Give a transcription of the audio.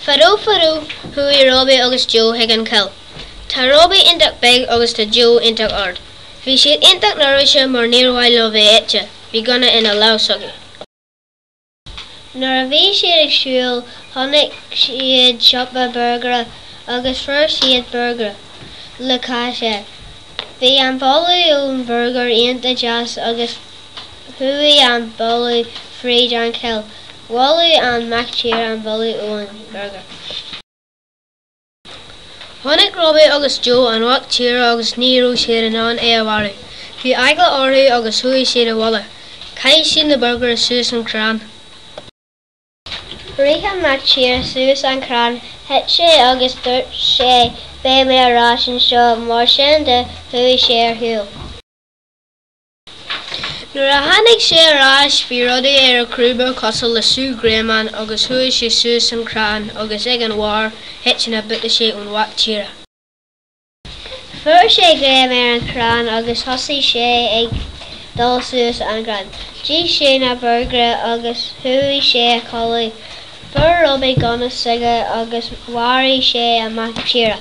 Fadó fadó, chuaigh Robbie agus Joe chuig an choill. Tá Robbie iontach beag agus tá Joe iontach ard. Bhí siad iontach neirbhíseach mar níor mhaith leo bheith ite, bhí gunna ina lámh s'acu. Nuair a bhí siad ag siúl, chonaic siad siopa borgaire agus fuair siad borgaire le cáis air. Bhí an boladh ón burger iontach deas agus. Chuaigh an boladh fríd an choill. Bholaigh an mac tíre an boladh ón burger. Chonaic Robbie agus Joe an mhac tíre agus ní raibh siad in ann é a mharú. Bhí eagla orthu agus chuaigh siad abhaile. Chaith siad na burger suas an crann. Rith an mac tíre suas an crann, thit sé agus dúirt sé Beidh mé ar ais anseo mar sin de chuaigh sé ar shiúl. Nuair a tháinig sé ar ais bhí rudaí ar a chrúba cosúil le sú greamáin agus chuaigh sé suas an crann agus ag an bharr thit na buataisí ón mhac tíre. Fuair sé greim ar an chrann agus thosaigh sé ag dul suas an crann. D'ith sé na borgairí agus chuaigh sé a chodladh. Fuair Robbie gunna s'aige agus mharaigh sé an mac tíre.